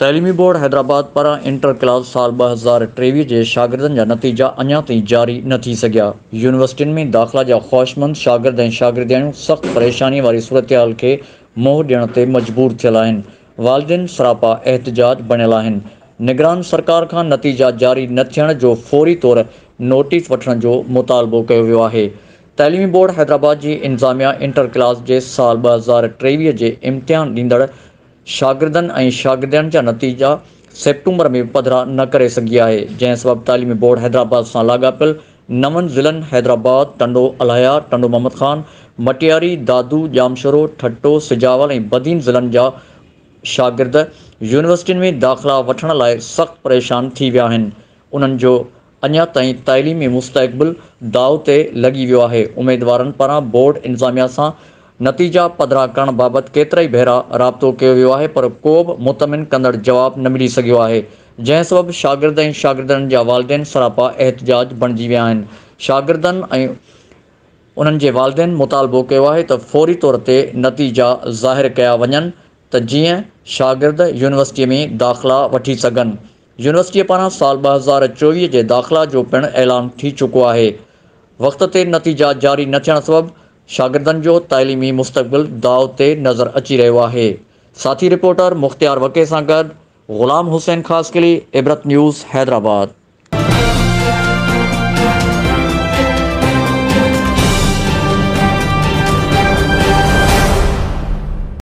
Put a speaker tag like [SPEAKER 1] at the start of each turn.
[SPEAKER 1] تعليمي بورڊ حيدرآباد پاران inter class سال ٻه هزار ٽيويهه جي شاگردن جا نتيجا اڃا تائين جاري نه ٿي سگهيا، يونيورسٽين ۾ داخلا جا خواهشمند شاگرد ۽ شاگردياڻيون سخت پريشاني واري صورتحال کي منهن ڏيڻ تي مجبور ٿيل آهن، والدين سراپا احتجاج بڻيل آهن، نگران سرڪار کان نتيجا جاري نه ٿيڻ جو فوري طور نوٽيس وٺڻ جو مطالبو ڪيو ويو آهي، تعليمي بورڊ حيدرآباد جي انتظاميا انٽر ڪلاس جي سال ٻه هزار ٽيويهه جي امتحان ڏيندڙ شاگردن ۽ شاگردياڻين جا نتيجا سيپٽمبر ۾ پڌرا نه ڪري سگهي آهي جنهن سبب تعليمي بورڊ حيدرآباد سان لاڳاپيل نون ضلعن حيدرآباد، ٽنڊو الايا، ٽنڊو محمد خان، مٽياري، دادو، ڄامشورو، ٺٽو، سجاول ۽ بدين ضلعن جا شاگرد يونيورسٽين ۾ داخلا وٺڻ لاء سخت پريشان ٿي ويا آهن، انهن جو اڃا تائين تعليمي مستقبل داء تي لڳي ويو آهي، اميدوارن پاران بورڊ انتظاميا سان نتيجا پڌرا ڪرڻ بابت ڪيترائي ڀيرا رابطو ڪيو ويو آهي پر ڪوبه مطمئن ڪندڙ جواب نه ملي سگهيو آهي جنهن سبب شاگرد ۽ شاگردياڻين جا والدين سراپا احتجاج بڻجي ويا آهن شاگردن ۽ انهن جي والدين مطالبو ڪيو آهي ته فوري طور تي نتيجا ظاهر ڪيا وڃن ته جيئن شاگرد يونيورسٽي ۾ داخلا وٺي سگهن يونيورسٽي پاران سال ٻه هزار چوويهه جي داخلا جو پڻ اعلان ٿي چڪو آهي وقت تي نتيجا جاري نه ٿيڻ سبب شاگردن جو تعليمي مستقبل داء تي نظر اچي رهيو آهي، ساٿي رپورٽر مختيار وڪي سان گڏ غلام حسين خاصخيلي، عبرت نيوز، حيدرآباد.